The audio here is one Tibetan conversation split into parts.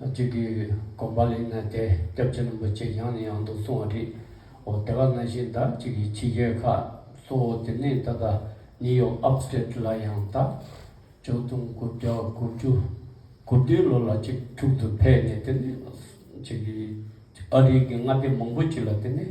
གཅིག་གིས་གོམ་པ་ལེགས་ན་དེ་སྐྱབས་རྗེ་རིན་པོ་ཆེ་ཡང་ནས་ཡང་དུ་གསུང་བ་རེད། འོ་དེ་ག་ན་བཞིན་ཟླ་གཅིག་གི་ཕྱི་རྒྱལ་ཁག་གཙོ་བོ་དེ་ནས་ད་ལྟ་ནིའུ་ཡོག་ཨབ་སྟེར་ལ་ཡང་ད་ཅོག་སྟོང་དགུ་བརྒྱ་དགུ་བཅུ་དགུ་བདུན་ལོ་ལ་གཅིག་དྲུག་ཏུ་ཕེབས་ནས་དེ་ནས་གཅིག་གིས་ཨ་རིག་གི་མངའ་སྡེ་མང་པོ་ཅིག་ལ་དེ་ནས་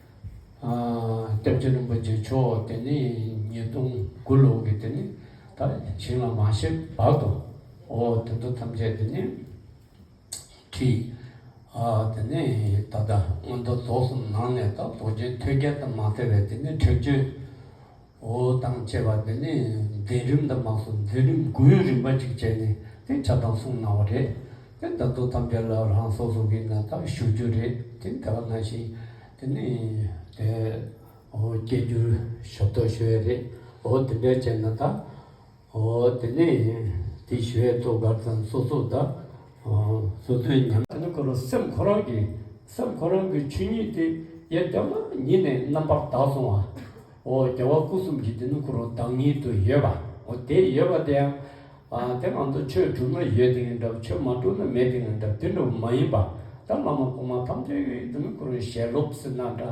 སྐྱབས་རྗེ་རིན་པོ་ཆེ་མཆོག་དེ་ནས་ཉིས་སྟོང་དགུ་ལོ་གི་དེ་ནས་ད་བྱིངས་ལ་མ་ཤེས་བར་དུ་འོ་དེ་ཚོ་ཐམས་ཅད་དེ་ནས་ཁྲིད། དེ་ནས་ད་ལྟ་སྔོན་དུ་རྫོགས་སུ་ནང་ནས་ད་རྡོ་རྗེ་ཐོད་རྒལ་དུ་མ་སྟེར་བས་དེ་ནས་ཁྲིད་བརྗོད། འོ་དང་བཅས་པ་འདི་ནི་འཛིན་རིམ་དུ་མ་སོགས་འཛིན་རིམ་དགུའི་རིམ་པ་གཅིག་བྱས་ནས་དེ་ཆ་ཚང་གསུངས་གནང་བ་རེད། དེ་ལྟར་དུ་ཐམས་ཅད་ལ་རང་སོ་སོ་གིས་ནི་དག་ཞུ་རྒྱུ་རེད་ཅིང་དེ་ལ་གནང་ཞིང་དེ་ནི་དེ་འོ་སྐྱེལ་རྒྱུར་ཞབས་ཏོག་ཞུ་ཡས་རེད་འོ་དེ་འདྲ་བྱས་ན་དག། ཨོ་དེ་ནས་དེ་ཞི་བའི་ཐུགས་ཀར་ཚངས་སོ་སོ་བཟླ། སོ་སོའི་ཉམས། དེ་ནས་ཁོ་རང་སེམས་ཁོ་རང་གི་སེམས་ཁོ་རང་གི་ཆོས་ཉིད་དེ་ཡེ་གདོད་མ་ཉིད་ནས་རྣམ་པར་དག་སོང་བ། ཨོ་རྒྱལ་བ་སྐུ་གསུམ་གྱི་དེ་ནི་ཁོ་རང་བདག་ཉིད་དུ་ཡོད་པ། ཨོ་དེ་ཡོད་པ་དེ་ཡང། དེ་ང་ཚོ་ཆོས་བསྒྲུབ་ན་ཡོད་དེ་ཡིན་འདྲ་ཆོས་མ་བསྒྲུབ་ན་མེད་དེ་ཡིན་འདྲ་དེ་འདྲ་བོ་མ་ཡིན་པ། ད་བླ་མ་གོང་མ་ཐམས་ཅད་ཀྱི་དེ་ནི་ཁོ་རང་ཞལ་སློབ་ཟིན་ན་འདྲ།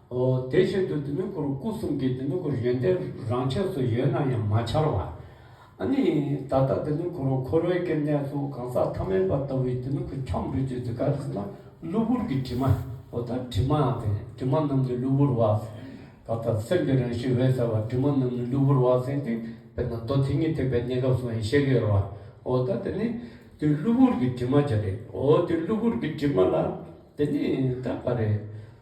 དེ་བཞིན་དུ་དེ་མིན་ཁོར་སྐུ་གསུམ་གྱི་དེ་མིན་ཁོར་ཡོན་ཏན་རང་ཆས་སུ་ཡོད་ན་ཡང་མ་འཆར་བ། ནི། ད་ལྟ་དེ་མིན་ཁོར་འཁོར་བའི་སྐྱེ་གནས་སུ་གང་ཟག་ཐ་མལ་པ་ལྟ་བུའི་དེ་མིན་ཁོ་ཁྱབ་འགྲོས་ཀྱི་འདི་ག་རེ་ཟེར་ན་གློ་བུར་གྱི་དྲི་མ། འོ་ད་དྲི་མ་དེ་དྲི་མ་རྣམས་ནི་གློ་བུར་བ། ད་ལྟ་སེམས་ཀྱི་རང་བཞིན་འོད་གསལ་བ་དྲི་མ་རྣམས་ནི་གློ་བུར་བ་ཟིན་ཏེ་དཔེར་ན་རྡོ་དེ་ཉིད་ཐེག་པའི་གནས་སྐབས་སུའང་ཤེས་ཀྱི་ཡོད་རེད་བ། འོ་ད་དེ་ནི། དེ་གློ་བུར་གྱི་དྲི་མ་ཅི་རེད། འོ་དེ་གློ་བུར་གྱི་དྲི་མ་ལ། དེ་ནི་ད་ག་རེད།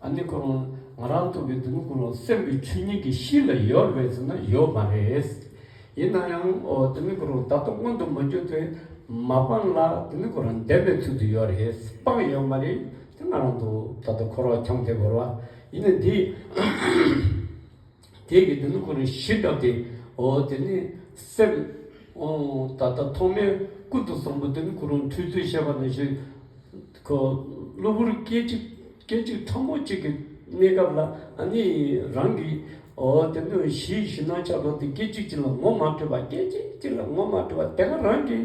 ཨ་ནི་ཁོ་རང་ང་རང་ཐུག་གི་འདུག་ཁོ་རང་སེམས་ཀྱི་ཆོས་ཉིད་ཀྱི་གཤིས་ལ་ཡོད་རེད་ཟེར་ན་ཡོད་མ་རེད། ཡིན་ན་ཡང་དེ་མིན་ཁོ་རང་ད་ལྟ་སྔོན་དུ་མ་གྱུར་ཏེ་མ་སྤངས་ལ་དེ་མིན་ཁོ་རང་བདེན་པའི་ཚུལ་དུ་ཡོད་རེད་སྤངས་ཡོད་མ་རེད་དེ་ང་རང་འདུག་ད་ལྟ་ཁོ་རང་འཁྱམས་ཏེ་འགོར་བ་ཡིན་ན་འདི། དེ་གིས་དེ་ནི་ཁོ་རང་ཞི་དྲགས་ཏེ། འོ་དེ་ནི་སེམས། འོ། ད་ལྟ་ཐོག་མའི་ཀུན་ཏུ་བཟང་པོ་དེ་ནི་ཁོ་རང་འཁྲུལ་ཚུལ་བཤད་པ་ན་ཞིག། གློ་བུར་སྐད་ཅིག་སྐད་ཅིག་ཕྲ་མོ་གཅིག་གི་གནས་སྐབས་ལ་ནི་རང་གིས། འོ་དེ་ནི་གཞི་ཞི་སྣང་ཆགས་དྲགས་ཏེ་སྐད་ཅིག་གཅིག་ལ་ངོ་མ་འཕྲོད་པ་སྐད་ཅིག་གཅིག་ལ་ངོ་མ་འཕྲོད་པ་དེ་ག་རང་གིས།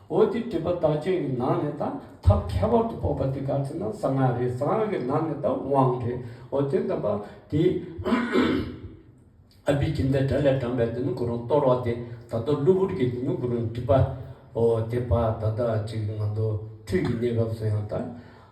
འོ་དེ་སྒྲིབ་པ་བདག་བསྐྱེད་ཀྱི་ནང་ནས་དང་ཐབས་ཁྱད་པར་དུ་སྤོབས་པ་འདི་ག་ཚེ་ན་གསང་སྔགས་རེད་གསང་སྔགས་ཀྱི་ནང་ནས་དང་དབང་རེད་འོ་དེ་འདམས་པ་དེ། ཨ་བི་ཀིན་དའི་སྒྲ་ལས་དྲངས་པའི་དེ་ནི་གུ་རུང་གཏོར་བ་དེ་ད་ལྟ་གློ་བུར་གྱི་དེ་ནི་གུ་རུང་སྒྲིབ་པའོ་དེ་བར་ད་ལྟ་ཅིག་ང་ཚོ་ཁྲུས་ཀྱི་གནས་སྐབས་སུ་ཡང་དང།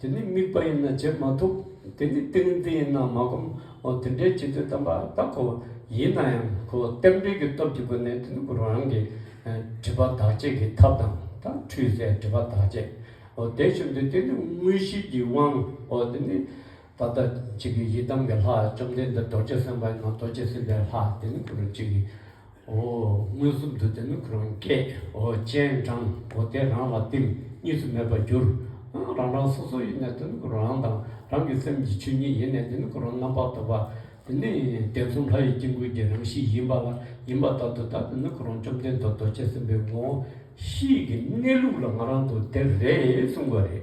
དེ་ནི་དམིགས་པ་ཡིན་ན་བྱེད་མ་ཐུབ། དེ་ནི་ཏིང་འཛིན་ཡིན་ན་མ་བསྒོམ། འོ་དེ་འདྲའི་བྱེད་དུས་དམ་པ་དག་གོ། ཡིན་ན་ཡང་ཁོ་བོ་རྟེན་འབྲེལ་གྱི་སྟོབས་ཀྱི་སྒོ་ནས་དེ་ནི་གུ་རུ་རང་གིས། སྒྲིབ་པ་དག་བྱེད་ཀྱི་ཐབས་དང་དང་འཁྲུལ་ཟད་སྒྲིབ་པ་དག་བྱེད། འོ་དེ་བྱུང་དུས་དེ་ནི་དངོས་གཞིའི་གྱི་དབང། འོ་དེ་ནི། ད་ལྟ་གཅིག་གི་ཡི་དམ་གྱི་ལྷ་བཅོམ་ལྡན་འདས་རྡོ་རྗེ་སེམས་དཔའ་ཡིན་ན་རྡོ་རྗེ་སེམས་དཔའི་ལྷ་དེ་ནི་གུ་རུ་གཅིག་གི། འོ། མངོན་སུམ་དུ་དེ་ནི་ཁོ་རང་སྐད། འོ། སྤྱན་དྲངས། འོ་དེས་རང་ལ་བསྟིམ། གཉིས་སུ་མེད་པར་གྱུར། རང་རང་སོ་སོ་ཡེ་ནས་དེ་ནི་ཁོ་རང་དང་རང་གི་སེམས་ཀྱི་ཆོས་ཉིད་ཡེ་ནས་དེ་ནི་ཁོ་རང་རྣམ་པར་དག་པ། དེ་ནི་གདན་གསུམ་ལྷ་ཡི་དཀྱིལ་འཁོར་གྱི་རང་བཞིན་ཡིན་པ་ལ་ཡིན་པ་ལྟར་དུ་བདག་དེ་ནི་ཁོ་རང་བཅོམ་ལྡན་འདས་རྡོ་རྗེ་སེམས་དཔའི་ངོ། གཤིས་ཀྱི་གནས་ལུགས་ལ་ང་རང་དུ་དེར་རེད་གསུངས་པ་རེད།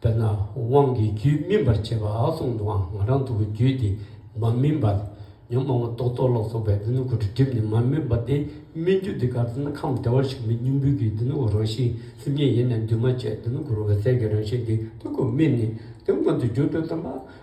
དཔེར་ན་དབང་གི་རྒྱུད་སྨིན་པར་བྱེད་པ་གསུང་དུའང་ང་རང་ཐུགས་ཀྱི་རྒྱུད་འདི་མ་སྨིན་པ། ཉོན་མོངས་པ་རྟོག་ཚོགས་ལ་སོགས་པའི་སྡེ་སྣོད་ཀུན་དུ་བསྒྲིབས་ནས་མ་སྨིན་པ་དེ་སྨིན་རྒྱུ་འདི་ག་ཚོད་ན་ཁམས་བདེ་བར་གཤེགས་པའི་སྙིང་པོའི་རྒྱུད་སྡེ་སྣོད་ཀུན་རང་བཞིན་སེམས་ཉིད་ཡེ་ནས་འདུས་མ་བྱས་སྡེ་སྣོད་ཀུན་རང་བའི་ཟས་ཀྱི་རང་བཞིན་འདི་སྣོད་ཀུན་སྨིན་ནས་དེ་མངོན་དུ་གྱུར་ཏོ་དམ་པ།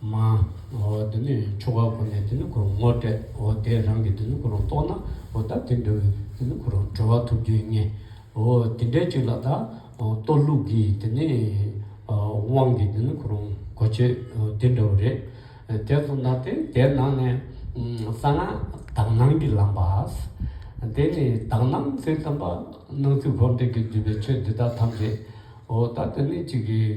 མ། འོ་དེ་ནས་ཆོ་ག་གོ་ནས་དེ་ནི་ཁོ་རང་ངོ་སྤྲད། འོ་དེས་རང་གིས་དེ་ནི་ཁོ་རང་རྟོགས་ན། འོ་ད་དེ་འགྲོ་བས་དེ་ནི་ཁོ་རང་གྲོལ་བ་ཐོབ་རྒྱུ་ཡིན་ངེས། འོ་དེ་འདྲའི་ཅིག་ལ་ད། གཏོར་བླུགས་ཀྱིས་དེ་ནི། དབང་གིས་དེ་ནི་ཁོ་རང་གོ་ཆོད་དེ་འདྲ་བོ་རེད། དེ་ཚོ་མདའ་དེ་དེ་ནང་ནས། གསང་སྔགས་དག་སྣང་གི་ལམ་པ། དེ་ནི་དག་སྣང་ཚུལ་དམ་པ། སྣང་ཚུལ་འཁོར་འདས་ཀྱི་བསྡུས་པའི་ཆོས་འདི་དག་ཐམས་ཅད། འོ་ད་དེ་ནི་ཅིག་གིས།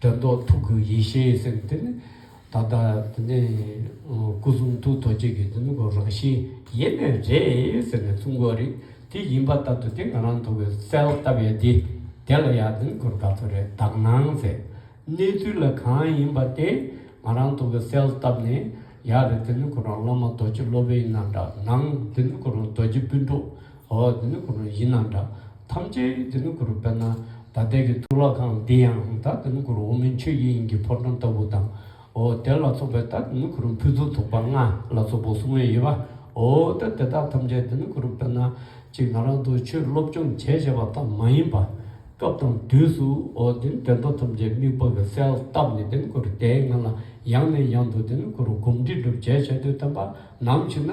དྲན་རྟོག་ཐུགས་ཀྱི་ཡེ་ཤེས་ཟེར་བའི་དེ་ནི་ད་ལྟ་དེ་ནས་སྐུ་གསུང་ཐུགས་རྡོ་རྗེ་གི་དེ་ནི་གོ་རང་བཞིན་ཡེ་ནས་རེད་ཟེར་ནས་གསུང་གོ་རིག་དེ་ཡིན་པ་ལྟར་དུ་དེ་ང་རང་འདུག་གི་སལ་བཏབ་ཡ་དེ་དེ་ལ་ཡ་དེ་ནི་གོ་བདག་ཏུ་རེད་བདག་སྣང་ཟེར་གནས་ཚུལ་ལ་གང་ཡིན་པ་དེ་ང་རང་འདུག་གི་སལ་བཏབ་ནས་ཡ་རེད་དེ་ནི་གོ་རང་བླ་མ་རྡོ་རྗེ་སློབ་དཔོན་ཡིན་ན་འདྲ་སྣང་དེ་ནི་གོ་རང་རྡོ་རྗེ་སྤུན་གྲོགས་ཨོ་དེ་ནི་གུ་རུ་ཡིན་ན་འདྲ། ཐམས་ཅད་དེ་ནི་གུ་རུ་དཔེར་ན། ད་ལྟའི་གི་ཐུགས་ལ་གང་འདི་ཡང་ད་དེ་ནི་གུ་རུ་འོག་མིན་ཆོས་དབྱིངས་དབྱིངས་ཀྱི་ཕོ་བྲང་ལྟ་བུ་དང། ཨོ་དེ་ལ་སོགས་པའི་ད་དེ་ནི་གུ་རུ་ཕུན་ཚོགས་ཐུགས་པ་ལྔ་ལ་སོགས་པའོ་གསུང་བའི་དབྱེ་བ། ཨོ་ད་དེ་དག་ཐམས་ཅད་དེ་ནི་གུ་རུ་དཔེར་ན། ཅིག་ང་རང་དུ་ཆོས་སློབ་སྦྱོང་བྱས་བྱས་པ་ཙམ་མ་ཡིན་པ། སྐབས་དང་དུས་སུ་ཨོ་དེ་ནི་དེ་དག་ཐམས་ཅད་དམིགས་པ་གི་གསལ་བཏབ་ནས་དེ་ནི་གུ་རུ་དེའི་ངང་ལ་ཡང་ནས་ཡང་དུ་དེ་ནི་གུ་རུ་སྒོམ་སྒྲིག་སྒྲུབ་བྱས་བྱས་དུས་བསྟན་པ་ནམ་ཞིག་ན།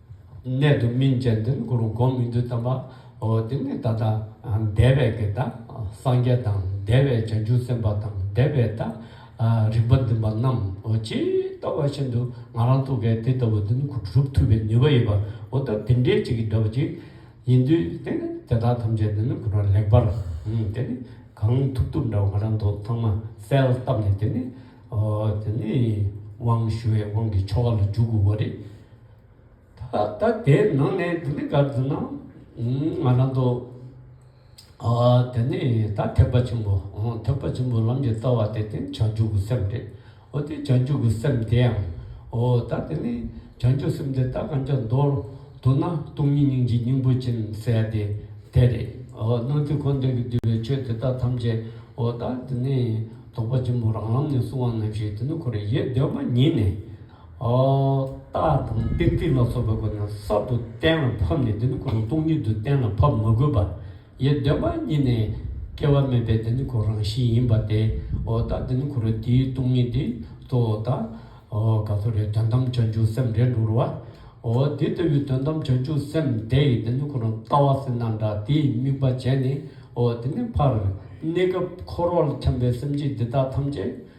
གནད་དུ་སྨིན་ཅན་འདིར་གུ་རུ་བསྒོམ་མི་འདོད་དམ་པ། འོ་དེ་ནས་ད་ལྟ་འདས་པའི་ཀྱི་ད་སངས་རྒྱས་དང་འདས་པའི་བྱང་ཆུབ་སེམས་དཔའ་དང་འདས་པའི་ད་རིག་པ་འཛིན་པ་རྣམས་འོ་ཇི་ལྟ་བ་བཞིན་དུ་ང་རང་ཐུགས་ཀའི་དེ་ལྟ་བུ་འདི་ནི་གུ་རུ་གྲུབ་ཐུབ་པའི་ནུས་པ་ཡོད་པ་འོ་ད་དེ་འདྲའི་ཅིག་གིས་འདྲ་བ་ཅིག་ཡིན་དུས་དེ་ནི་དེ་དག་ཐམས་ཅད་འདི་ནི་གུ་རུ་ལེགས་པར་དེ་ནི་གང་ཐུབ་ཐུབ་འདྲ་བ་ང་རང་མདོ་ཚང་མ་གསལ་བཏབ་ནས་དེ་ནི་འོ་དེ་ནི་དབང་ཞུ་བའི་དབང་གི་ཆོ་ག་ལ་འཇུག་དགོས་པ་རེད། ད་ལྟ་དེ་ནང་ནས་འདི་འདི་གར་འཛུལ་ན་ང་རང་ཚོ་དེ་ནས་ད་ཐེག་པ་ཆེན་པོ་ཐེག་པ་ཆེན་པོ་ལམ་གྱི་རྩ་བ་དེ་དེ་ནི་བྱང་ཆུབ་ཀྱི་སེམས་རེད། འོ་དེ་བྱང་ཆུབ་ཀྱི་སེམས་དེ་ཡང་འོ་ད་དེ་ནི་བྱང་ཆུབ་སེམས་དེ་ད་གང་ཅག་མདོར་བསྡུ་ན་སྟོང་ཉིད་སྙིང་རྗེའི་སྙིང་པོ་ཅན་ཟེར་ཡ་དེ་དེ་རེད། འོ་སྣང་སྲིད་འཁོར་འདས་ཀྱིས་བསྡུས་པའི་ཆོས་དེ་དག་ཐམས་ཅད་འོ་ད་དེ་ནི་རྟོགས་པ་ཆེན་པོ་རང་ལམ་ནས་གསུང་བ་ནམ་ཞིག་དེ་ནི་འཁོར་ཡེ་གདོད་མ་ཉིད་ནས། རྟགས་དང་ཏིག་ཏིག་ལ་སོགས་པའི་སྒོ་ནས་གསར་དུ་གཏན་ལ་ཕབ་ནས་དེ་ནི་གོ་རིམས་སྟོང་ཉིད་དུ་གཏན་ལ་ཕབ་མ་དགོས་པ། ཡེ་གདོད་མ་ཉིད་ནས་སྐྱེ་བ་མེད་པའི་དེ་ནི་གོ་རང་བཞིན་ཡིན་པ་སྟེ། རྟགས་འདི་ནི་གོ་རིམས་འདིའི་སྟོང་ཉིད་དེ་གཙོ་བོ་དང། ག་ཚོད་རེད་དོན་དམ་བྱང་ཆུབ་སེམས་རེད་འགྲོ་རུ་བ། དེ་ལྟ་བུའི་དོན་དམ་བྱང་ཆུབ་སེམས་དེ་ཡི་དེ་ནི་གོ་རིམས་ལྟ་བ་སེར་སྣ་འདྲ་དེའི་དམིགས་པ་བྱས་ནས། དེ་ནི་ཕར་གནས་སྐབས་འཁོར་བར་འཁྱམས་པའི་སེམས་ཅན་འདི་དག་ཐམས་ཅད།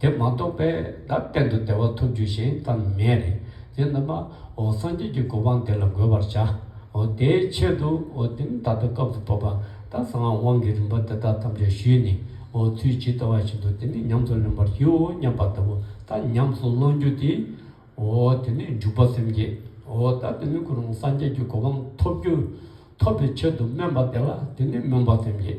དེ་མ་གཏོགས་པའི་བརྡ་གཏན་དུ་བདེ་བ་ཐོབ་རྒྱུ་ཞིག་ད་མེད། དེས་ན་མ་འོ་སངས་རྒྱས་ཀྱི་གོ་འཕང་དེ་ལ་འགོད་པར་བྱ། འོ་དེའི་ཆེད་དུ་འོ་དེ་ནི་ད་ལྟ་སྐབས་དུ་བབ་པ་ད་གསང་སྔགས་དབང་གི་རིམ་པ་དེ་དག་ཐམས་ཅད་ཞུས་ནས་འོ་ཚུལ་ཇི་ལྟ་བ་བཞིན་དུ་དེ་ནི་ཉམས་སུ་ལེན་པར་བགྱིའོ་སྙམ་པ་ལྟ་བུ་ད་ཉམས་སུ་བླང་རྒྱུ་དེ། འོ་དེ་ནས་འཇུག་པ་སེམས་བསྐྱེད། འོ་ད་དེ་ནི་ཁོ་རང་སངས་རྒྱས་ཀྱི་གོ་འཕང་ཐོབ་རྒྱུ། ཐོབ་པའི་ཆེད་དུ་སྨོན་པ་དེ་ལ་དེ་ནི་སྨོན་པ་སེམས་བསྐྱེད།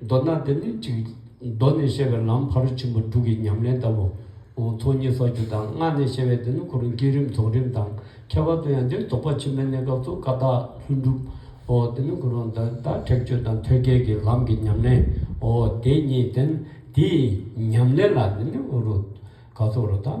མདོར་ན་འདི་ནི་གཅིག། མདོ་ནས་བཤད་པའི་ལམ་ཕ་རོལ་ཕྱིན་པ་དྲུག་གི་ཉམས་ལེན་ལྟ་བུ། ཚོགས་གཉིས་ཚོགས་བཅུ་དང་ལྔ་ནས་བཤད་པའི་འདི་ནི་གོ་རིམ་བསྐྱེད་རིམ་རྫོགས་རིམ་དང་ཁྱད་པར་དུ་ཡང་འདིར་དོགས་པ་ཕྱི་མའི་གནས་སྐབས་སུ་ཀ་དག་ལྷུན་གྲུབ། འདི་ནི་གོ་རིམ་བདག་ཁྲེགས་ཆོད་དང་ཐོད་རྒལ་གྱི་ལམ་གྱི་ཉམས་ལེན། དེ་གཉིས་དེ་ནི་དེའི་ཉམས་ལེན་ལ་འདི་ནི་ག་ཚོད་རོ་དང།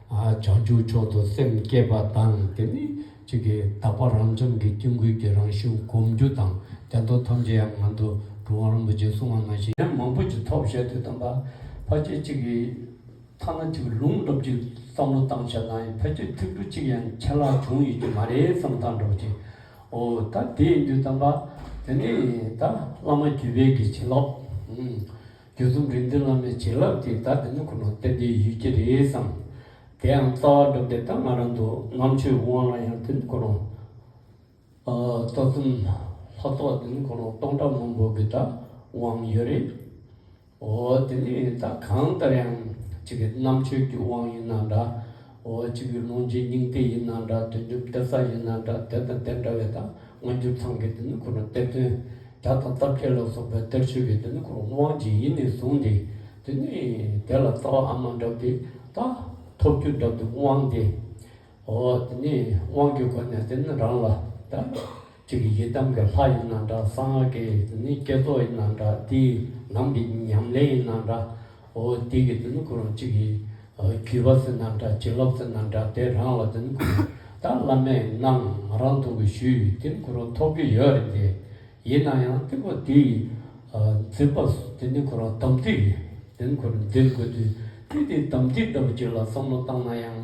བྱང་ཆུབ་མཆོག་ཏུ་སེམས་བསྐྱེད་པ་དང་དེ་ནི་གཅིག་གི་དག་པ་རང་བྱུང་གི་སྐྱེ་འགུལ་གྱི་རང་བཞིན་བསྒོམ་རྒྱུ་དང་རྒྱ་མདོ་ཐམས་ཅད་ཡང་ངང་དུ་གྲུབ་དབང་རིན་པོ་ཆེས་གསུང་བ་ནང་བཞིན། ཡང་མང་པོ་ཅིག་ཐོབ་བྱས་ཏེ་སྟོན་པ་ཕ་རྗེས་གཅིག་གི་ཐ་ན་གཅིག་ལུང་སློབ་ཀྱི་བསམ་བློ་བཏང་ཕྱིར་ན་ཕལ་ཆེར་ཐིག་འབྲུ་གཅིག་ཡང་ཆད་ལྷག་བྱུང་ཡོད་ཀྱི་མ་རེད་བསམ་སྟངས་འགྲོ་གི། འོ་ད་དེ་ཡིན་དུས་སྟོན་པ་དེ་ནི་ད་བླ་མ་བརྒྱུད་པའི་གི་བྱིན་རླབས། རྒྱུ་རྫུ་འཕྲུལ་མདུན་ལམ་ནས་བྱིན་རླབས་ཀྱིས་བདག་འདི་ནི་ཁོ་ནར་བསྟན་པའི་ཡུལ་གྱི་རེད་བསམ། དེའང་རྩ་བ་སྒྲུབ་སྡེ་ལྟར་སྔ་རབས་མདོ་ལྔ་ཆོས་དབང་ལ་ཡང་འདི་ནི་ཁོ་ནར། རྩ་གསུམ་ལྷ་ཚོགས་འདི་ནི་ཁོ་ནར་སྟོང་ཕྲག་མང་པོ་གི་བདག་དབང་ཡོད་རེད། འོ་དེ་ནས་ད་གང་ལྟར་ཡང་གཅིག་གི་རྣམ་དཔྱོད་ཀྱི་དབང་ཡིན་ན་འདྲ། འོ་གཅིག་གི་ལུང་རྗེས་སྙིང་དེ་ཡིན་ན་འདྲ་དོན་རྒྱུ་འབྲས་རྩ་ཡིན་ན་འདྲ་དེ་དང་དེ་འདྲ་བའི་དང་སྔ་འགྱུར་ཚང་གི་དེ་ནི་ཁོ་ན་གཏེར་སྟོན། བྱ་དང་རྩ་བརྒྱད་ལ་སོགས་པའི་གཏེར་ཆོས་ཀྱི་དེ་ནི་ཁོ་ན་དབང་གཅིག་ཡིན་ནས་བཟུང་སྟེ། དེ་ནི་དེ་ལ་རྩ་བ་ཨ་མ་འདྲ་བདེ་ལྟ། ཐོབ་རྒྱུ་འདྲ་བདེ་དབང་སྟེ། འོ་དེ་ནི་དབང་གི་སྒོ་ནས་དེ་ནི་རང་ལ་ལྟ། གཅིག་གི་ཡི་དམ་གྱི་ལྷ་ཡིན་ན་འདྲ་གསང་སྔགས་ཀྱི་དེ་ནི་བསྐྱེད་རྫོགས་ཡིན་ན་འདྲ་དེ་ནང་གི་ཉམས་ལེན་ཡིན་ན་འདྲ་འོ་དེ་གི་དེ་ནི་ཁོ་རང་གཅིག་གི་རྒྱུད་པ་ཟིན་ན་འདྲ་བྱིན་རླབས་ཟིན་ན་འདྲ་དེ་རང་ལ་དེ་ནི་ཁོ་ད་བླ་མས་གནང་ང་རང་ཐོབ་གི་ཞུས་དེ་ནི་ཁོ་རང་ཐོབ་ཀྱི་ཡོད་རེད་དེ་ཡིན་ན་ཡང་དེ་ཁོ་དེ་ཡི་འཛིན་པ་དེ་ནི་ཁོ་རང་དམ་ཚིག་དེ་ནི་ཁོ་རང་འཛིན་དགོས་དུས་དེ་དེ་དམ་ཚིག་ལྟ་བུ་ཅིག་ལ་བསམ་བློ་བཏང་ན་ཡང།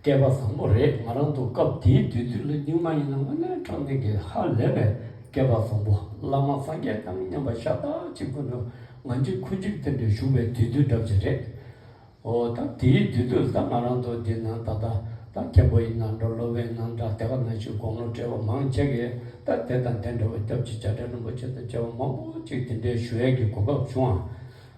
སྐལ་པ་བཟང་པོ་རེད་ང་རང་དུ་སྐབས་དེའི་དུས་ཚོད་ལ་སྙིང་མ་ཡིན་ན་དངོས་གནས་འཕྲང་འདིང་གི་ཧ་ལས་པའི་སྐལ་པ་བཟང་པོ་བླ་མ་སངས་རྒྱས་དང་མཉམ་པ་ཤ་སྟག་ཅིག་ཁོ་ནི་ང་གཅིག་ཁོ་གཅིག་དེ་འདྲའི་བཞུགས་པའི་དུས་ཚོད་འདྲ་བྱེད་རེད་འོ་ད་དེའི་དུས་ཚོད་ཟ་ང་རང་དུ་འདི་ན་ད་ད་ད་མཁན་པོ་ཡིན་ན་འགྲོ་ལོ་བས་ན་འདྲ་དེ་ག་ནང་བཞིན་དགོང་ལོ་བྲེལ་བ་མང་ཆེ་གི་ད་དེ་དང་དེ་འདྲ་བ་སྐྱབས་རྗེ་བྱ་བྲལ་རིན་པོ་ཆེ་དང་བཅས་བ་མང་པོ་ཅིག་དེ་འདྲའི་ཞུ་ཡས་ཀྱི་གོ་སྐབས་བྱུང་བ།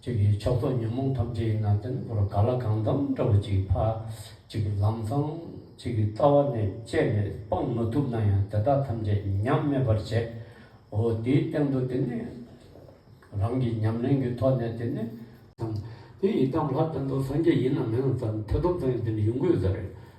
གཅིག་གིས་ཕྱག་རྫོགས་ཉོན་མོངས་ཐམས་ཅད་ཡི་ནང་བསྟན་བོར་ག་ལ་གང་འདམ་འདྲ་བོ་ཅིག་ཕ་གཅིག་གི་ལམ་བཟང་གཅིག་གི་རྩ་བ་ནས་བཅད་ནས་སྤང་མ་ཐུབ་ན་ཡང་དེ་དག་ཐམས་ཅད་ཉམས་མེད་པར་བྱས་འོ་དེའི་སྟེང་དུ་དེ་ནས་རང་གི་ཉམས་ལེན་གྱི་ཐོག་ནས་དེ་ནས། དེ་ཡི་དམ་ལྷ་དོན་དུ་སངས་རྒྱས་ཡིན་ནམ་མིན་ལ་བརྩམས་ཐེ་ཚོམ་ཙམ་ཡང་དེ་ནི་ཡུན་ཀུན་ཟད་རེད།